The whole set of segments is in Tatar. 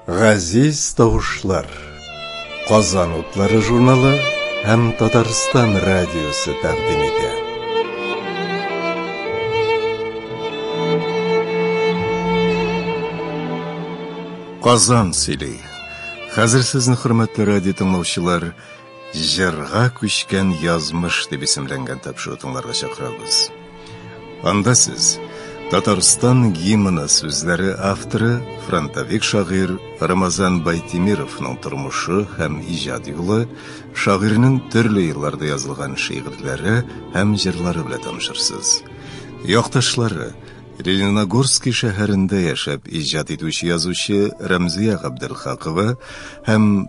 Газиз тавышлар. Казан утлары журналы һәм Татарстан радиосы тәкъдим итә. Казан сөйли. Хәзер сезне хөрмәтле радио тыңлаучылар Җырга күчкән язмыш дип исемләнгән тапшыру тыңларга чакырабыз. Анда сез Татарстан гимны сүзләре авторы, фронтовик шагыйрь Рамазан Байтимировның тормышы һәм иҗат юлы, шагыйрьнең төрле елларда язылган шигырьләре һәм җырлары белән танышырсыз. Якташлары Лениногорский шәһәрендә яшәп иҗат итүче язучы Рәмзия Габделхакова һәм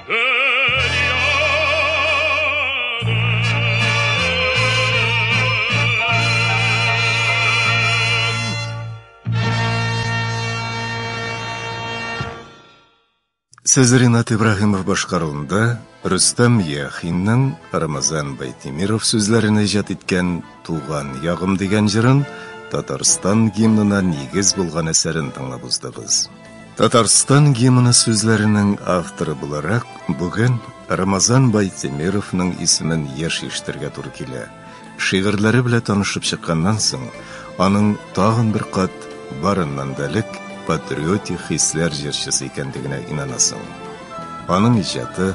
Сез Ринат Ибраһимов башкаруында Рөстәм Яхинның Рамазан Байтимиров сүзләрен иҗат иткән Туган ягым дигән җырын Татарстан гимнына нигез булган әсәрен тыңлап уздыгыз. Татарстан гимны сүзләренең авторы буларак бүген Рамазан Байтемировның исемен еш ишетергә туры килә. Шигырьләре белән танышып чыкканнан соң, аның тагын бер кат барыннан да элек патриотик хисләр җырчысы икәнлегенә инанасың. Аның иҗаты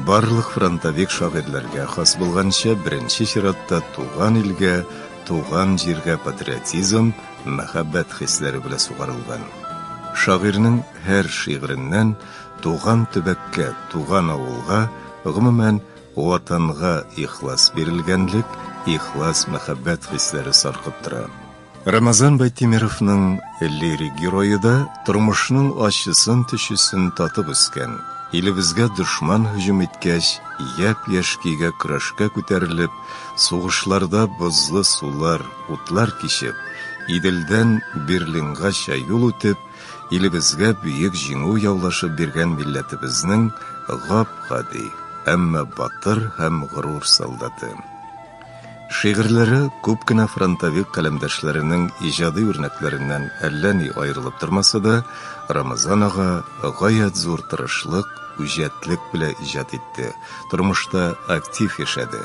барлык фронтовик шагыйрьләргә хас булганча, беренче чиратта туган илгә, туган җиргә патриотизм, мәхәббәт хисләре белә сугарылган. Шагыйрьнең һәр шигыреннән туган төбәккә, туган авылга, гомумән, Ватанга ихлас бирелгәнлек, ихлас мәхәббәт хисләре саркып тора. Рамазан Байтимировның лирик герое да тормышның ачысын-төчесен татып үскән, илебезгә дошман һөҗүм иткәч, япь-яшь көйгә көрәшкә күтәрелеп, Сугышларда бозлы сулар, утлар кичеп, Иделдән Берлингача юл үтеп, илебезгә бөек җиңү яулашып биргән милләтебезнең гап-гади, әмма батыр һәм горур солдаты. Шигырьләре күп кенә фронтовик каләмдәшләренең иҗади үрнәкләреннән әллә ни аерылып тормаса да, Рамазан ага гаять зур тырышлык, үҗәтлек белән иҗат итте. Тормышта актив яшәде.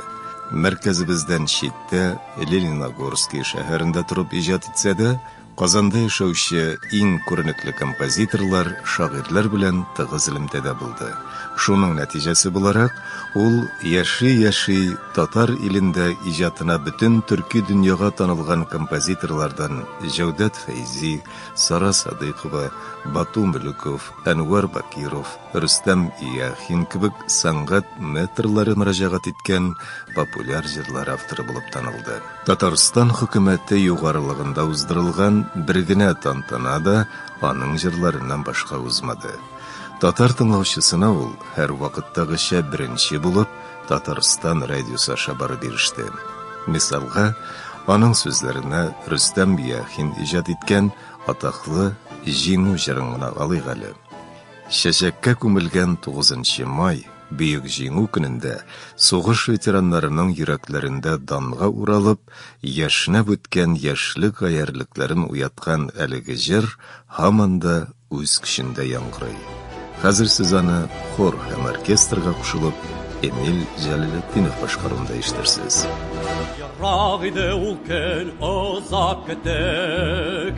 Мәркәзебездән читтә, Лениногорский шәһәрендә торып иҗат итсә дә, Казанда яшәүче иң күренекле композиторлар, шагыйрьләр белән тыгыз элемтәдә булды. Шуның нәтиҗәсе буларак, ул яши-яши татар илендә иҗатына бөтен төрки дөньяга танылган композиторлардан Җәүдәт Фәйзи, Сара Садыйкова, Бату Мөлеков, Әнвәр Бакиров, Рөстәм Яхин кебек сәнгать метрлары мөрәҗәгать иткән популяр җырлар авторы булып танылды. Татарстан хөкүмәте югарылыгында уздырылган бер генә тантана да аның җырларыннан башка узмады. Татар тыңлаучысына ул, һәрвакыттагыча беренче булып, Татарстан радиосы аша барып иреште. Мисалга, аның сүзләренә Рөстәм Яхин иҗат иткән атаклы Җиңү җырын гына алыйк әле. Чәчәккә күмелгән 9 май, Бөек Җиңү көнендә сугыш ветераннарының йөрәкләрендә данга уралып, яшьнәп үткән яшьлек гаярьлекләрен уяткан әлеге җыр һаман да үз көчендә яңгырый. Хәзер сез аны хор һәм оркестрга кушылып, Эмиль Җәләлетдинов башкаруында ишетерсез. Ерак иде ул көн, озак көттек.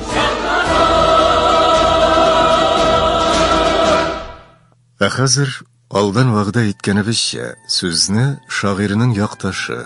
Ә хәзер алдан вәгъдә иткәнебезчә, сүзне шагыйрьнең якташы,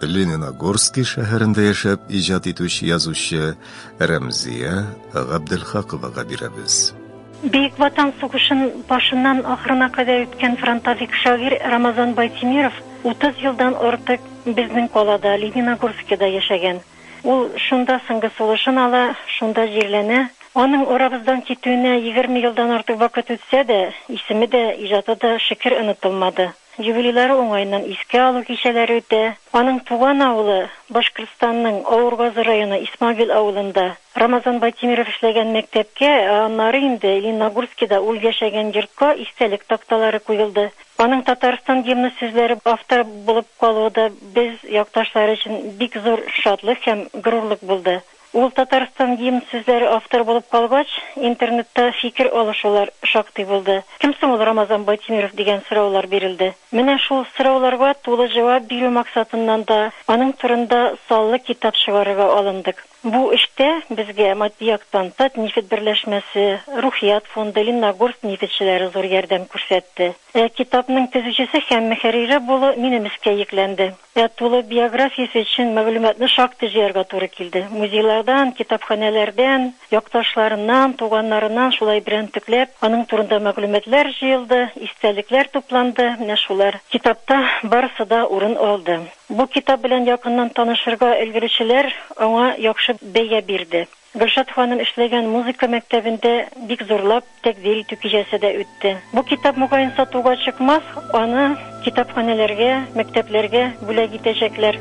Лениногорский шәһәрендә яшәп иҗат итүче язучы Рәмзия Габделхаковага бирәбез. Бөек Ватан сугышын башыннан ахырына кадәр үткән фронтовик шагыйрь Рамазан Байтимиров 30 елдан артык безнең калада, Лениногорскида яшәгән. Ул шунда соңгы сулышын ала, шунда җирләнә. Аның арабыздан китүенә егерме елдан артык вакыт үтсә дә, исеме дә, иҗаты да шөкер онытылмады. Юбилейлары уңаеннан искә алу кичәләре үтә. Аның туган авылы, Башкортстанның Авургазы районы Исмагил авылында, Рамазан Байтимеров эшләгән мәктәпкә, ә аннары инде Лениногорскида ул яшәгән йортка истәлек такталары куелды. Аның Татарстан гимны сүзләре авторы булып калуы да без, якташлары өчен бик зур шатлык һәм горурлык булды. Ул Татарстан гимн сүзләре авторы булып калгач, интернетта фикер алышулар шактый булды. Кем соң ул Рамазан Байтимеров дигән сораулар бирелде. Менә шул сорауларга тулы җавап бирү максатыннан да аның турында саллы китап чыгарырга алындык. Бу эштә безгә матди яктан Татнефть берләшмәсе, Рухият фонды, Ленногорск нефтьчеләре зур ярдәм күрсәтте. Ә китапның төзүчесе һәм мөхәррире булу минем өскә йөкләнде. Ә тулы биографиясе өчен мәгълүматны шактый җыярга туры килде. Музейлардан, китапханәләрдән, якташларыннан, туганнарыннан шулай берәмтекләп аның турында мәгълүматлар җыелды, истәлекләр тупланды, менә шулар китапта барысы да урын алды. Бу китап белән якыннан танышырга өлгерүчеләр аңа яхшы бәя бирде. Гөлшат ханым эшләгән музыка мәктәбендә бик зурлап тәкъдир итү кичәсе дә үтте. Бу китап, мөгаен, сатуга чыкмас, аны китапханәләргә, мәктәпләргә бүләк итәчәкләр.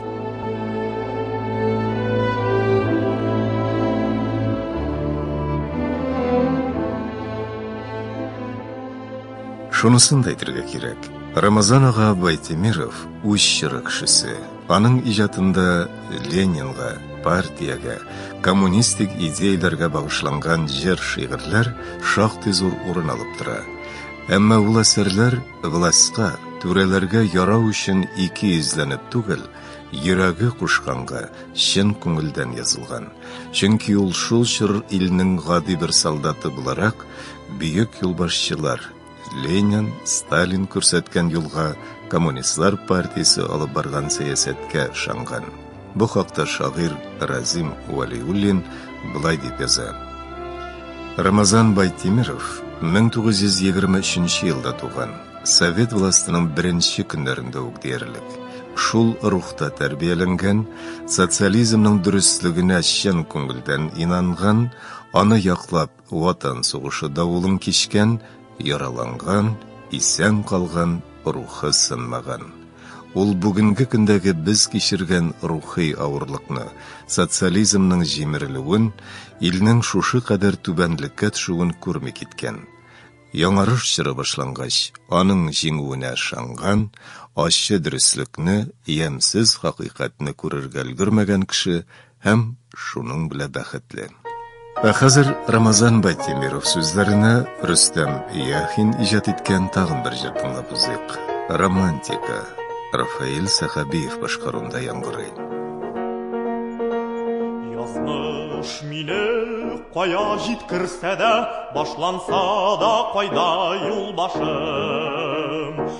Шунысын да әйтергә кирәк, Рамазан ага Байтимиров, үз чоры кешесе. Аның иҗатында Ленинга, партиягә, коммунистик идеяләргә багышланган җыр-шигырьләр шактый зур урын алып тора. Әмма ул әсәрләр властька, түрәләргә ярау өчен ике йөзләнеп түгел, йөрәге кушканга, чын күңелдән язылган. Чөнки ул шул чор илнең гади бер солдаты буларак, бөек юлбашчылар, Ленин, Сталин күрсәткән юлга, коммунистлар партиясе алып барган сәясәткә ышанган. Бу хакта шагыйрь Разим Валиуллин былай дип яза. Рамазан Байтимиров 1923 елда туган. Совет властының беренче көннәрендә үк диярлек. Шул рухта тәрбияләнгән, социализмның дөреслегенә чын күңелдән инанган, аны яклап, Ватан сугышы давылын кичкән, яраланган, исән калган, рухы сынмаган. Ул бүгенге көндәге без кичергән рухи авырлыкны, социализмның җимерелүен, илнең шушы кадәр түбәнлеккә төшүен күрми киткән. Яңарыш чоры башлангач, аның җиңүенә ышанган, ачы дөреслекне, ямьсез хакыйкатьне күрергә өлгермәгән кеше Һәм шуның белә бәхетле. Ә хәзер Рамазан Байтемиров сүзләренә Рөстәм Яхин иҗат иткән тагын бер җыр тыңлап узыйк. Романтика. Рафаэль Сәхәбиев башкаруында яңгырый. Язмыш мине кая җиткерсә дә, башланса да кайда юл башым.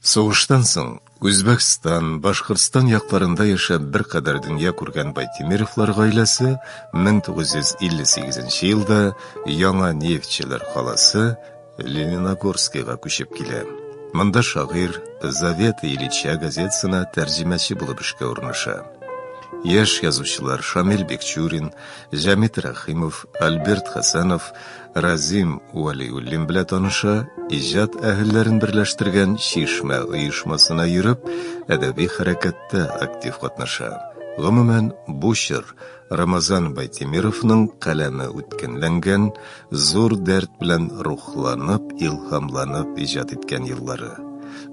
Сугыштан соң Үзбәкстан, Башкортстан якларында яшәп беркадәр дөнья күргән Байтимировлар гаиләсе 1958 елда Яңа Нефтьчеләр каласы Лениногорскига күчеп килә. Монда шагыйрь Завета Ильича газетасына тәрҗемәче булып эшкә урнаша. Яшь язучылар Шамил Бекчурин, Җәмит Рәхимов, Альберт Хәсәнов Разим Вәлиуллин белән таныша, иҗат әһелләрен берләштергән Чишмә оешмасына йөреп, әдәби хәрәкәттә актив катнаша. Гомумән, бу чор Рамазан Байтимировның каләме үткенләнгән, зур дәрт белән рухланып, илһамланып иҗат иткән еллары.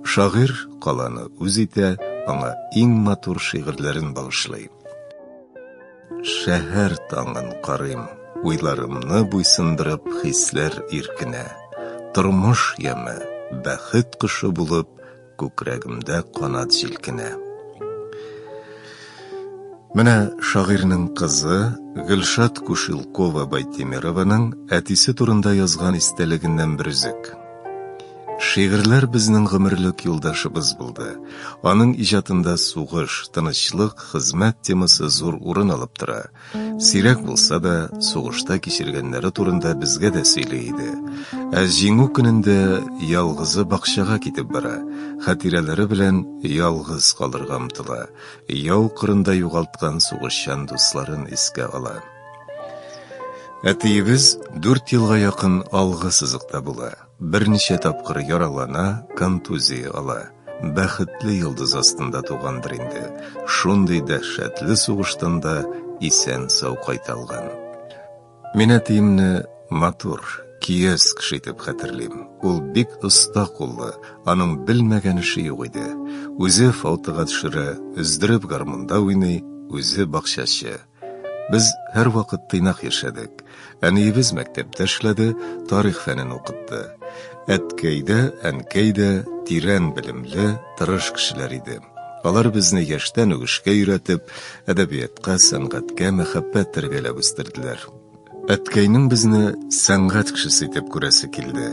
Шагыйрь каланы үз итә, аңа иң матур шигырьләрен багышлый. Шәһәр таңын карыйм, уйларымны буйсындырып хисләр иркенә. Тормыш яме, бәхет кошы булып, күкрәгемдә канат җилкенә. Менә шагыйрьнең кызы Гөлшат Кушелкова Байтимированың әтисе турында язган истәлегеннән бер өзек. Шигырьләр безнең гомерлек юлдашыбыз булды. Аның иҗатында сугыш, тынычлык, хезмәт темасы зур урын алып тора. Сирәк булса да, сугышта кичергәннәре турында безгә дә сөйли иде. Ә Җиңү көнендә ялгызы бакчага китеп бара, хатирәләре белән ялгыз калырга омтыла, яу кырында югалткан сугышчан дусларын искә ала. Әтиебез дүрт елга якын алгы сызыкта була. Берничә тапкыр яралана, контузия ала. Бәхетле йолдыз астында тугандыр инде, шундый дәһшәтле сугыштан да исән-сау кайта алган. Мин әтиемне матур, киез кеше итеп хәтерлим. Ул бик оста куллы, аның белмәгән эше юк иде. Үзе фаутыга төшерә, өздереп гармунда уйный, үзе бакчачы. Без һәрвакыт тыйнак яшәдек. Әниебез мәктәптә эшләде, тарих фәнен укытты. Әткәй дә, әнкәй дә тирән белемле, тырыш кешеләр иде. Алар безне яшьтән үк эшкә өйрәтеп, әдәбиятка, сәнгатькә мәхәббәт тәрбияләп үстерделәр. Әткәйнең безне сәнгать кешесе итеп күрәсе килде.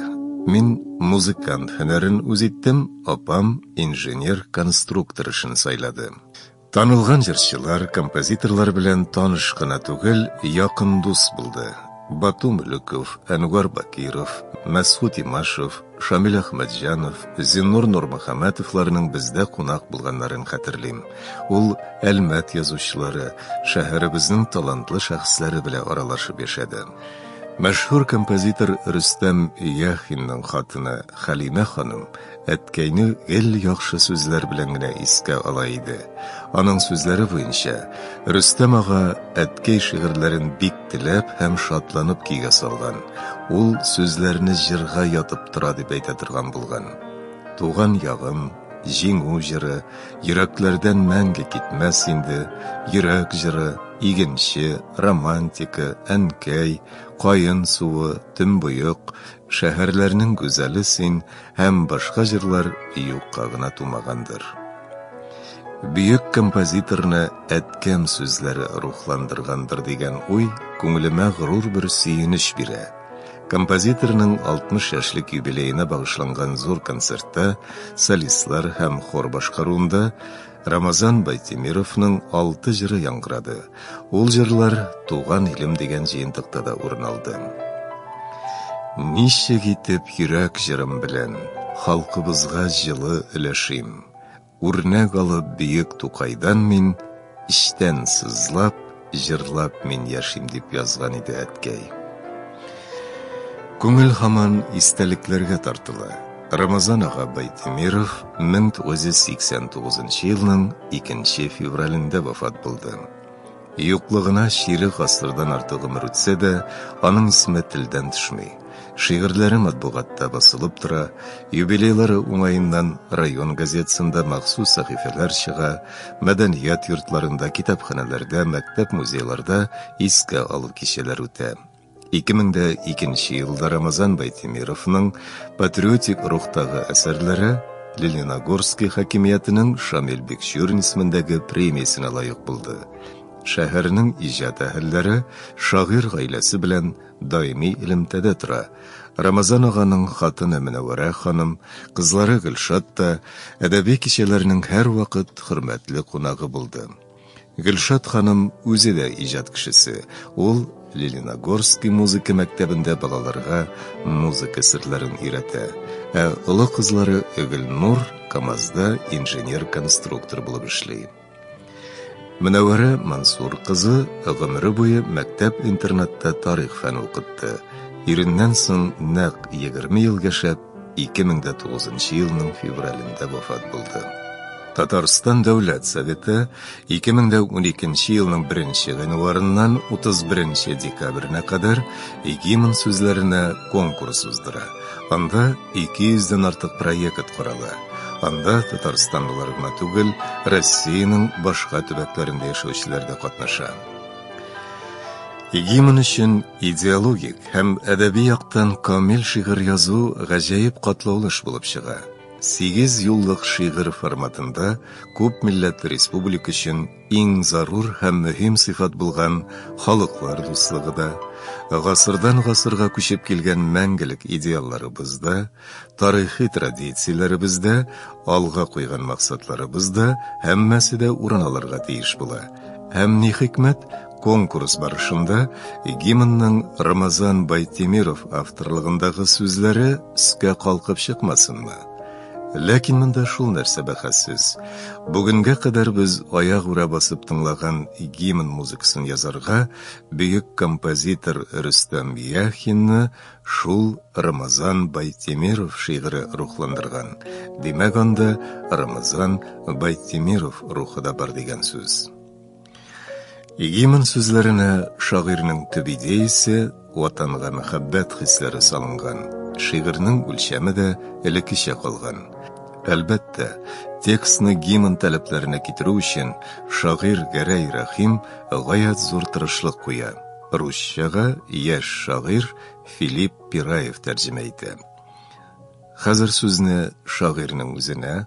Мин музыкант һөнәрен үз иттем, апам инженер-конструктор эшен сайлады. Танылган җырчылар, композиторлар белән таныш кына түгел, якын дус булды. Бату Мөлеков, Әнвар Бакиров, Мәсхут Имашев, Шамил Әхмәтҗанов, Зиннур Нурмөхәмәтовларның бездә кунак булганнарын хәтерлим. Ул Әлмәт язучылары, шәһәребезнең талантлы шәхесләре белән аралашып яшәде. Мәшһүр композитор Рөстәм Яхинның хатыны Хәлимә ханым Әткәйне гел яхшы сүзләр белән генә искә ала иде. Аның сүзләре буенча, Рөстәм ага әткәй шигырьләрен бик теләп һәм шатланып көйгә салган. Ул сүзләрне җырга ятып тора дип әйтә торган булган. Туган ягым, җиңү җыры, йөрәкләрдән мәңге китмәс инде, йөрәк җыры, игенче, романтика, әнкәй, каен суы, төнбоек, Шәһәрләрнең гүзәле син һәм башка җырлар юкка гына тумагандыр. Бөек композиторны әткәм сүзләре рухландыргандыр дигән уй күңелемә горур бер сөенеч бирә. Композиторның 60 яшьлек юбилеена багышланган зур концертта солистлар һәм хор башкаруында Рамазан Байтимировның алты җыры яңгырады. Ул җырлар Туган илем дигән җыентыкта да урын алды. Ничек итеп йөрәк җырым белән халкыбызга җылы өләшим. Үрнәк алып бөек Тукайдан мин, эчтән сызлап, Җырлап мин яшим, дип язган иде әткәй. Күңел һаман истәлекләргә тартыла. Рамазан ага Байтимиров 1989 елның 2 февралендә вафат булды. Юклыгына чирек гасырдан артык гомер үтсә дә, аның исеме телдән төшми. Шигырьләре матбугатта басылып тора, юбилейлары уңаеннан район газетасында махсус сәхифәләр чыга, мәдәният йортларында, китапханәләрдә, мәктәп-музейларда искә алу кичәләр үтә. 2002 елда Рамазан Байтимировның патриотик рухтагы әсәрләре Лениногорский хакимиятенең Шамил Бекчурин исемендәге премиясенә лаек булды. Шәһәрнең иҗат әһелләре шагыйрь гаиләсе белән даими элемтәдә тора. Рамазан аганың хатыны Мөнәвәрә ханым, кызлары Гөлшат та әдәби кичәләрнең һәрвакыт хөрмәтле кунагы булды. Гөлшат ханым үзе дә иҗат кешесе. Ул Лениногорский музыка мәктәбендә балаларга музыка серләрен өйрәтә. Ә олы кызлары Гөлнур КАМАЗда инженер-конструктор булып эшли. Мөнәвәрә Мансур кызы гомере буе мәктәп-интернатта тарих фәне укытты. Иреннән соң нәкъ 20 ел яшәп, 2009 елның февралендә вафат булды. Татарстан Дәүләт Советы 2012 елның 1 гыйнварыннан 31 декабренә кадәр гимн сүзләренә конкурс уздыра. Анда 200 дән артык проект корала. Анда татарстанлылар гына түгел, Россиянең башка төбәкләрендә яшәүчеләр дә катнаша. Гимн өчен идеологик һәм әдәби яктан камил шигырь язу гаҗәеп катлаулы эш булып чыга. Сигез юллык шигырь форматында күп милләтле республика өчен Иң зарур һәм мөһим сыйфат булган халыклар дуслыгы да, гасырдан гасырга күчеп килгән мәңгелек идеалларыбыз да, тарихи традицияләребез дә, алга куйган максатларыбыз да, һәммәсе дә урын алырга тиеш була. Һәм ни хикмәт, конкурс барышында гимнның Рамазан Байтемиров авторлыгындагы сүзләре өскә калкып чыкмасынмы? Ләкин монда шул нәрсә бәхәссез. Бүгенгә кадәр без аяк үрә басып тыңлаган гимн музыкасын язарга бөек композитор Рөстәм Яхинны шул Рамазан Байтемиров шигыре рухландырган. Димәк анда Рамазан Байтемиров рухы да бар дигән сүз. Гимн сүзләренә шагыйрьнең төп идеясе, ватанга мәхәббәт хисләре салынган. Шигырьнең үлчәме дә элеккечә калган. Әлбәттә, текстны гимн таләпләренә китерү өчен шагыйрь Гәрәй Рәхим гаять зур тырышлык куя. Русчага яшь шагыйрь Филипп Пираев тәрҗемә итә. Хәзер сүзне шагыйрьнең үзенә,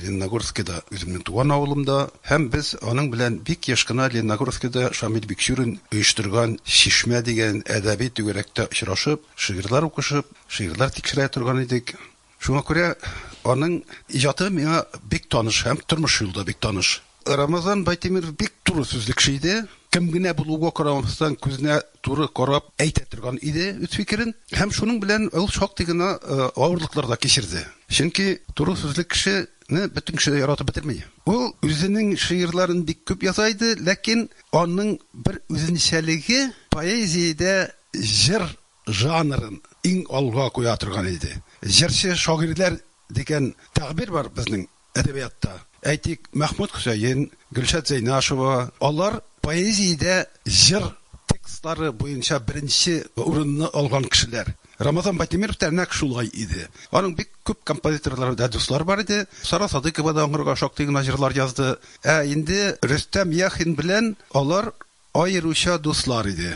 Лениногорскида, үземнең туган авылымда һәм без аның белән бик еш кына Лениногорскида Шамил Бикчурин оештырган Чишмә дигән әдәби түгәрәктә очрашып, шигырьләр укышып, шигырьләр тикшерә торган идек. Шуңа күрә аның иҗаты миңа бик таныш һәм тормыш юлы да бик таныш. Рамазан Байтимиров бик туры сүзле кеше иде. Кем генә булуга карамастан, күзенә туры карап әйтә торган иде үз фикерен. Һәм шуның белән ул шактый гына авырлыклар да кичерде. Чөнки туры сүзле кешене бөтен кеше дә яратып бетерми. Ул үзенең шигырьләрен бик күп яза иде, ләкин аның бер үзенчәлеге, поэзиядә җыр жанрын иң алга куя торган иде. Җырчы шагыйрьләр дигән тәгъбир бар безнең. Әдәбиятта, әйтик, Мәхмүт Хөсәен, Гөлшат Зәйнашева, алар поэзиядә җыр текстлары буенча беренче урынны алган кешеләр. Рамазан Байтимеров та нәкъ шулай иде. Аның бик күп композиторлары да дуслары бар иде. Сара Садыйкова да аңарга шактый гына җырлар язды. Ә инде Рөстәм Яхин белән алар Аеруча дуслар иде.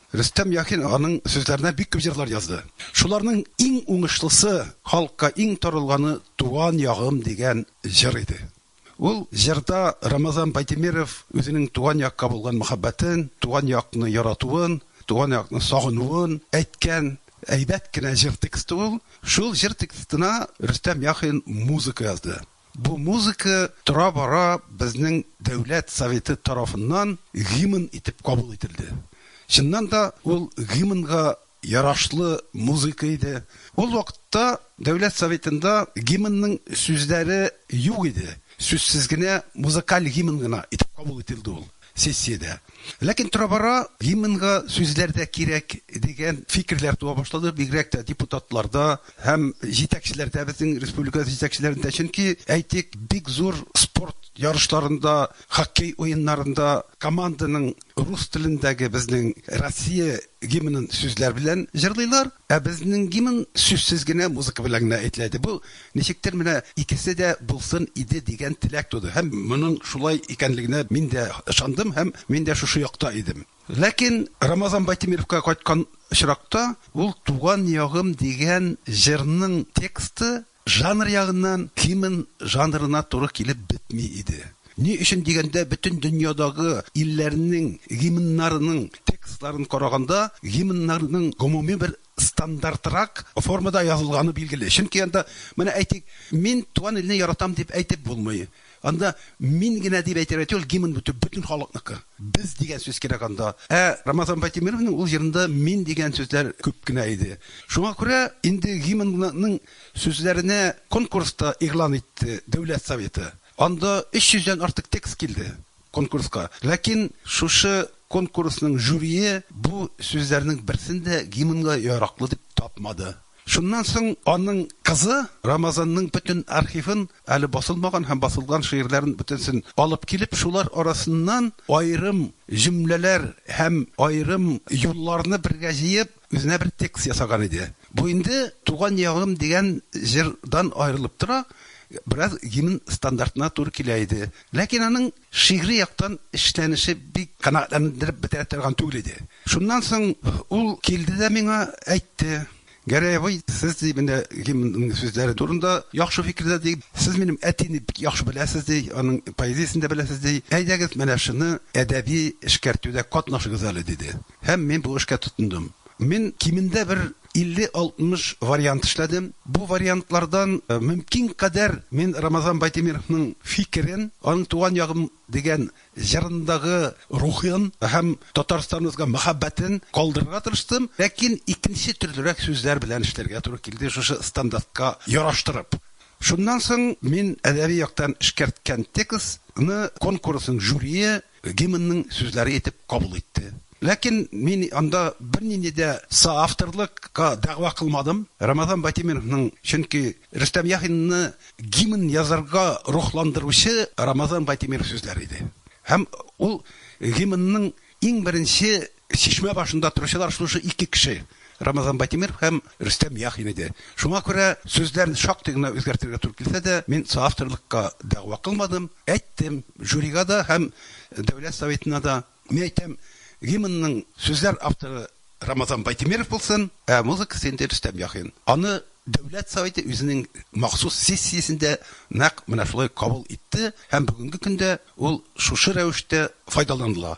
Рөстәм Яхин аның сүзләренә бик күп җырлар язды. Шуларның иң уңышлысы, халыкка иң таралганы Туган ягым дигән җыр иде. Ул җырда Рамазан Байтимеров үзенең туган якка булган мәхәббәтен, туган якны яратуын, туган якны сагынуын әйткән әйбәт кенә җыр тексты ул. Шул җыр текстына Рөстәм Яхин музыка язды. Бу музыка тора-бара безнең Дәүләт Советы тарафыннан гимн итеп кабул ителде. Чыннан да, ул гимнга ярашлы музыка иде. Ул вакытта Дәүләт Советында гимнның сүзләре юк иде, сүзсез генә музыкаль гимн гына итеп кабул ителде ул. сессиядә. Ләкин тора-бара гимнга сүзләр дә кирәк дигән фикерләр туа башлады, бигрәк тә депутатларда һәм җитәкчеләрдә, безнең республика җитәкчеләрендә. Чөнки, әйтик, бик зур спорт ярышларында, хоккей уеннарында команданың рус телендәге безнең Россия гимнын сүзләр белән җырлыйлар. Ә безнең гимн сүзсез генә музыка белән генә әйтеләде. Бу, ничектер, менә икесе дә булсын иде дигән теләк туды. Һәм моның шулай икәнлегенә мин дә ышандым һәм мин дә шушы якта идем. Ләкин Рамазан Байтимировка кайткан очракта, ул Туган ягым дигән җырның тексты Жанр ягыннан Тимон жанрына туры килеп бетми иде. Ни өчен дигәндә, бөтен дөньядагы илләрнең гимннарының текстларын караганда, гимннарның гомуми бер стандартрак формада язылганы билгеле. Чөнки анда, менә әйтик, Мин туган илне яратам дип әйтеп булмый. Анда мин генә дип әйтергә түгел, гимн бу бөтен халыкныкы. Без дигән сүз кирәк анда. Ә Рамазан Байтимеровның ул җырында мин дигән сүзләр күп кенә иде. Шуңа күрә инде гимнның сүзләренә конкурс та игълан итте Дәүләт Советы. Анда 300 дән артык текст килде. конкурска. Ләкин шушы конкурсның жюрие бу сүзләрнең берсен дә гимнга яраклы дип тапмады. Шуннан соң аның кызы Рамазанның бөтен архивын, әле басылмаган һәм басылган шигырьләрен бөтенсен алып килеп, шулар арасыннан аерым җөмләләр һәм аерым юлларны бергә җыеп, Үзенә бер текст ясаган иде. Бу инде Туган ягым дигән җырдан аерылып тора, бераз гимн стандартына туры килә иде. Ләкин аның шигъри яктан эшләнеше бик канәгатьләндереп бетерә торган түгел иде. Шуннан соң ул килде дә миңа әйтте, Гәрәй абый, сез, ди, менә гимнның сүзләре турында яхшы фикердә, ди. Сез минем әтине бик яхшы беләсез, ди, аның поэзиясен дә беләсез, ди. Әйдәгез, менә шуны әдәби эшкәртүдә катнашыгыз әле, диде. Һәм мин бу эшкә тотындым. Мин кимендә бер 50-60 вариант эшләдем. Бу вариантлардан мөмкин кадәр мин Рамазан Байтимировның фикерен, аның Туган ягым дигән җырындагы рухын һәм Татарстаныбызга мәхәббәтен калдырырга тырыштым, ләкин икенче төрлерәк сүзләр белән эшләргә туры килде, шушы стандартка яраштырып. Шуннан соң мин әдәби яктан эшкәрткән текстны конкурсның жюрие гимнның сүзләре итеп кабул итте. Ләкин мин анда бернинди дә соавторлыкка дәгъва кылмадым, Рамазан Байтимеровның, чөнки Рөстәм Яхинны гимн язарга рухландыручы Рамазан Байтимиров сүзләре иде. Һәм ул гимнның иң беренче Чишмә башында торучылар шушы ике кеше, Рамазан Байтимеров һәм Рөстәм Яхин иде. Шуңа күрә сүзләрне шактый гына үзгәртергә туры килсә дә, мин соавторлыкка дәгъва кылмадым, әйттем, жюрига да һәм Дәүләт Советына да. Мин әйтәм, гимнның сүзләр авторы Рамазан Байтимеров булсын, ә музыкасы инде Рөстәм Яхин. Аны Дәүләт Советы үзенең махсус сессиясендә нәкъ менә шулай кабул итте һәм бүгенге көндә ул шушы рәвештә файдаланыла.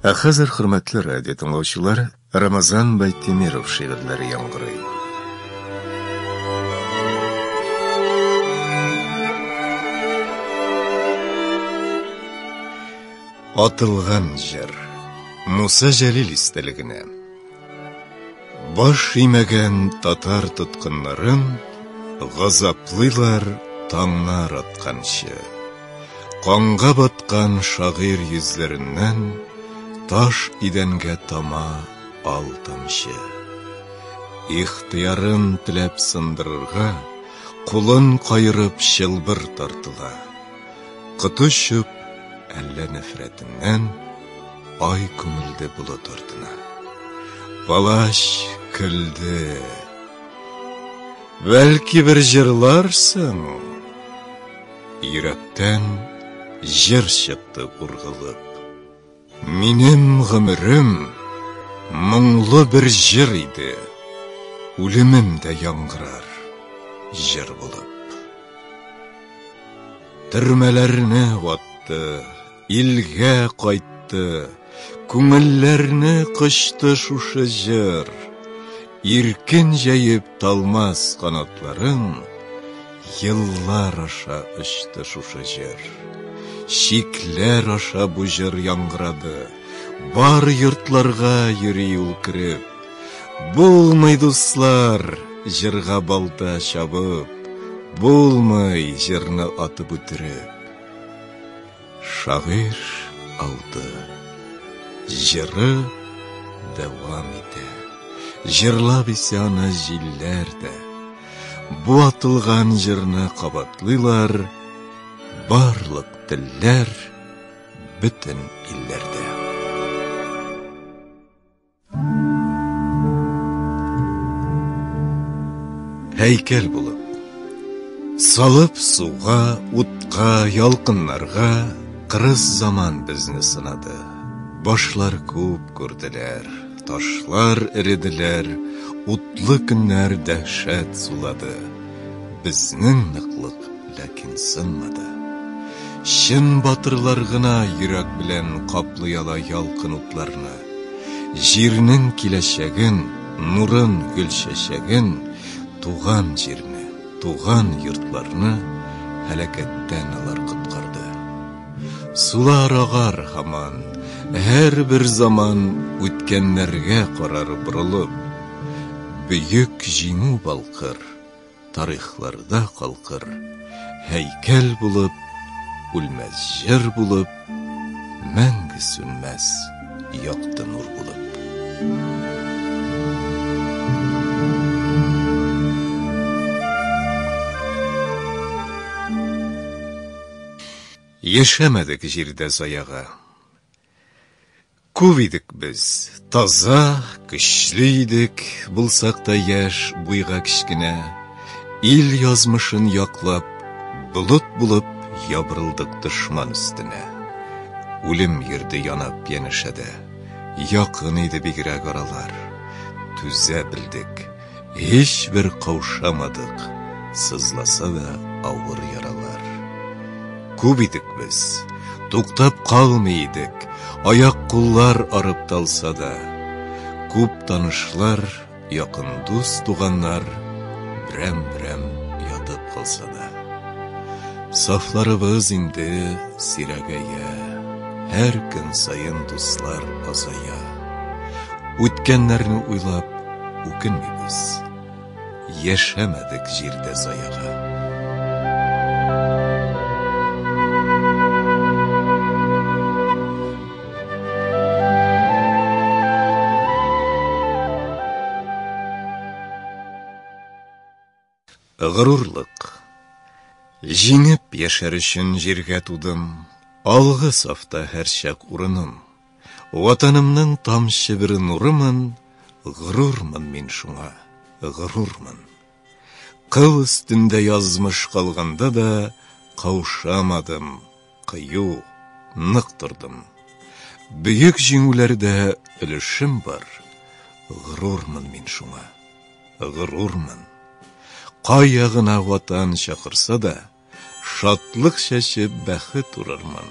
Ә хәзер, хөрмәтле радио тыңлаучылар, Рамазан Байтемиров шигырьләре яңгырый. Атылган җыр. Муса Җәлил истәлегенә. Баш имәгән татар тоткыннарын газаплыйлар таңнар атканчы. Канга баткан шагыйр йөзләреннән таш идәнгә тама ал тамчы. Ихтыярын теләп сындырырга, кулын каерып чылбыр тартыла. Коточып, әллә нәфрәтеннән ай күмелде болыт артына. Палач көлде. Бәлки бер җырларсың? Йөрәктән җыр чыкты ургылып. Минем гомерем моңлы бер җыр иде, Үлемем дә яңгырар җыр булып. Төрмәләрне ватты, илгә кайтты, Күңелләрне кочты шушы җыр. Иркен җәеп талмас канатларың, Еллар аша очты шушы җыр. Чикләр аша бу җыр яңгырады. Бар йортларга йөри ул кереп. Булмый, дуслар, җырга балта чабып, Булмый, җырны атып үтереп. Шагыйрь алды. Җыры дәвам итә. Җырлап исә аны җилләр дә. Бу атылган җырны кабатлыйлар барлык телләр, бөтен илләрдә. Һәйкәл булып Салып суга, утка, ялкыннарга Кырыс заман безне сынады Башлар күп күрделәр, ташлар эределәр Утлы көннәр дәһшәт сулады Безнең ныклык Ләкин сынмады. Чын батырлар гына йөрәк белән каплый ала ялкын утларны. Җирнең киләчәген, нурын, гөл чәчәген, туган җирне, туган йортларны һәлакәттән алар коткарды. Сулар агар һаман, һәрбер заман үткәннәргә карар борылып, бөек җиңү балкыр. Тарихларда калкыр һәйкәл булып, Үлмәс җыр булып, мәңге сүнмәс якты нур булып. Яшәмәдек җирдә заяга. Күп идек без, таза, көчле идек, Булсак та яшь, буйга кечкенә. Ил язмышын яклап, болыт булып Ябырылдык дошман өстенә. Үлем йөрде янап янәшәдә, Якын иде бигрәк аралар. Түзә белдек. Һичбер каушамадык, сызласа да авыр яралар. Күп идек без, туктап калмый идек, аяк-куллар арып талса да. Күп танышлар, якын дус туганнар, берәм-берәм ятып калса да. Сафларыбыз инде сирәгәя, һәр көн саен дуслар азая. Үткәннәрне уйлап үкенмибез. Яшәмәдек җирдә заяга. Горурлык. Җиңеп яшәр өчен җиргә тудым, Алгы сафта һәрчак урыным. Ватанымның тамчы бер нурымын, Горурмын мин шуңа, горурмын. Кыл өстендә язмыш калганда да, Каушамадым. Кыю, нык тордым. Бөек җиңүләрдә өлешем бар. Горурмын мин шуңа. Горурмын. Кая гына ватан чакырса да, шатлык чәчеп бәхет урырмын.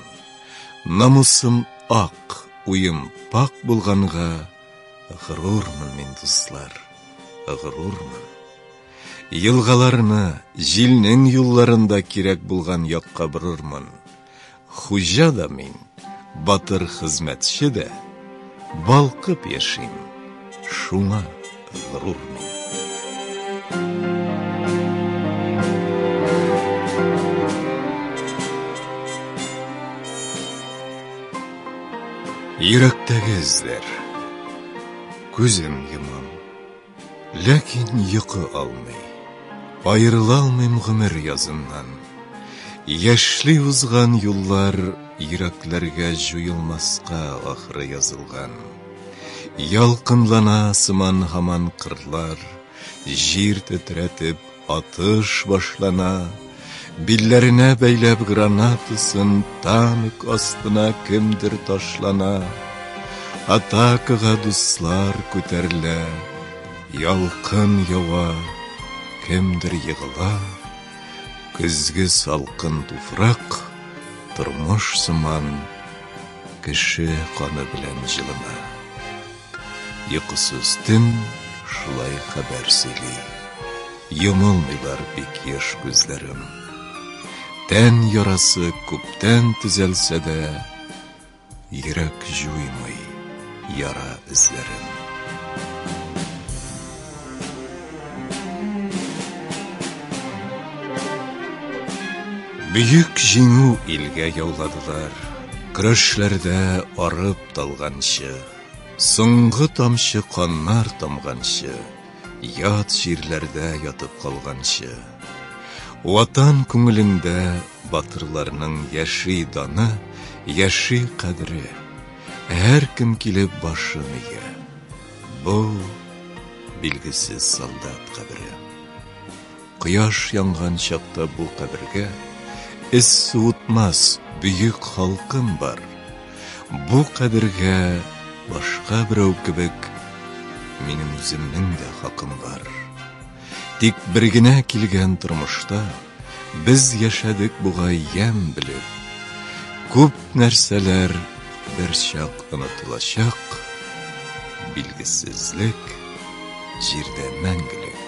Намусым ак, уем пак булганга, горурмын мин, дуслар, горурмын. Елгаларны, җилнең юлларын да кирәк булган якка борырмын. Хуҗа да мин, батыр хезмәтче дә, балкып яшим, шуңа горур мин. Йөрәктәге эзләр. Күзем йомам. Ләкин йокы алмый, Аерыла алмыйм гомер языннан. Яшьли узган юллар Йөрәкләргә җуелмаска ахры язылган. Ялкынлана сыман һаман кырлар, Җир тетрәтеп Атыш башлана, билләренә бәйләп гранатасын танк астына кемдер ташлана. Атакага дуслар күтәрелә, ялкын ява, кемдер егыла. Көзге салкын туфрак, тормыш сыман, кеше каны белән җылына. Йокысыз төн шулай хәбәр сөйли. Йомылмыйлар бик еш күзләрем. Тән ярасы күптән төзәлсә дә, Йөрәк җуймый яра эзләрен. Бөек җиңү илгә яуладылар, Көрәшләрдә арып-талганчы. Соңгы тамчы каннар тамганчы, Ят җирләрдә ятып калганчы, Ватан күңелендә батырларның Яши даны, яши кадере, Һәркем килеп башын ия. Бу, билгесез солдат кабере. Кояш янган чакта бу кабергә эз суытмас бөек халкым бар. Бу кабергә башка берәү кебек минем үземнең дә хакым бар. Тик бер генә килгән тормышта без яшәдек бугай ямь белеп. Күп нәрсәләр берчак онытылачак, билгесезлек җирдә мәңгелек.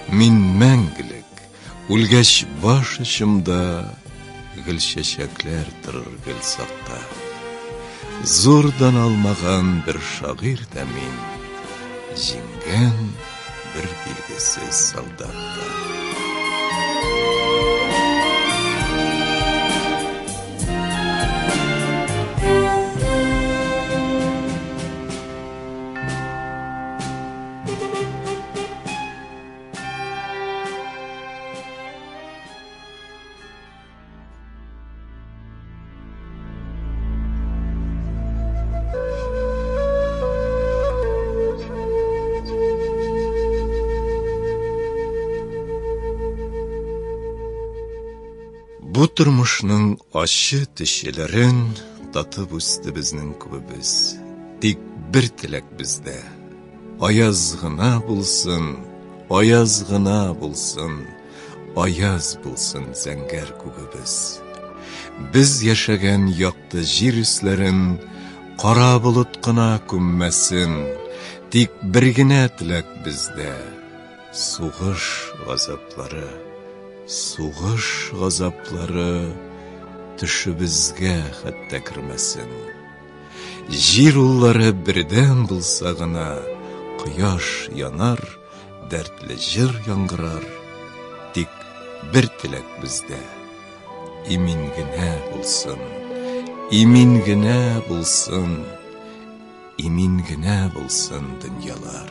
Мин мәңгелек, үлгәч баш очымда Гөл чәчәкләр торыр гел сакта. Зурдан алмаган бер шагыйрь дә мин, Җиңгән бер билгесез солдат та. Бу тормышның ачы төшеләрен татып үсте безнең күбебез. Тик бер теләк бездә, Аяз гына булсын, аяз гына булсын, аяз булсын зәңгәр күгебез. Без яшәгән якты җир өсләрен кара болыт кына күммәсен, тик бер генә теләк бездә, сугыш газаплары, сугыш газаплары төшебезгә хәтта кермәсен. Җир уллары бердәм булса гына, Кояш янар, дәртле җыр яңгырар. Тик бер теләк бездә, имин генә булсын, Имин генә булсын, имин генә булсын дөньялар.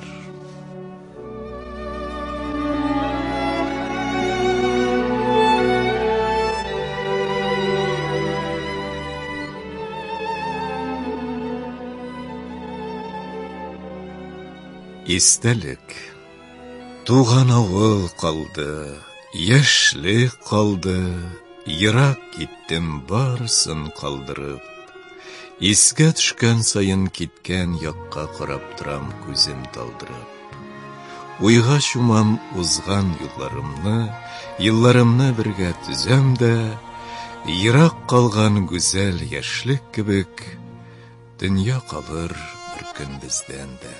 Истәлек Туган авыл калды, яшьлек калды, Ерак киттем барысын калдырып. Искә төшкән саен киткән якка карап торам күзем талдырып. Уйга чумам узган юлларымны, елларымны бергә төзәм дә, ерак калган гүзәл яшьлек кебек, дөнья калыр бер көн бездән дә.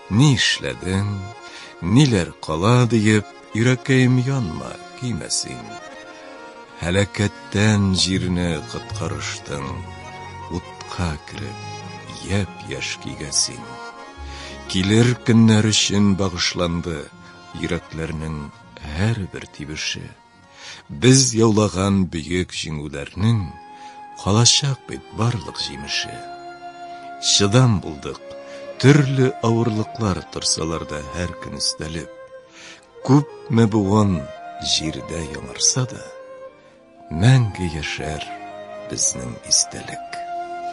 Ни эшләдең, ниләр кала диеп, йөрәккәем янма, көймә син. Һәлакәттән җирне коткарыштың, утка кереп, япь-яшь көйгә син. Килер көннәр өчен багышланды йөрәкләрнең һәрбер тибеше. Без яулаган бөек җиңүләрнең калачак бит барлык җимеше. Чыдам булдык, төрле авырлыклар торсалар да һәр көн өстәлеп. Күпме буын җирдә яңарса да, мәңге яшәр безнең истәлек.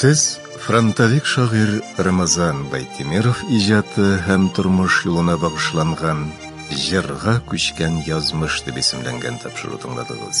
Сез фронтовик шагыйр Рамазан Байтимиров иҗаты һәм тормыш юлына багышланган Җырга күчкән язмыш дип исемләнгән тапшыру тыңладыгыз.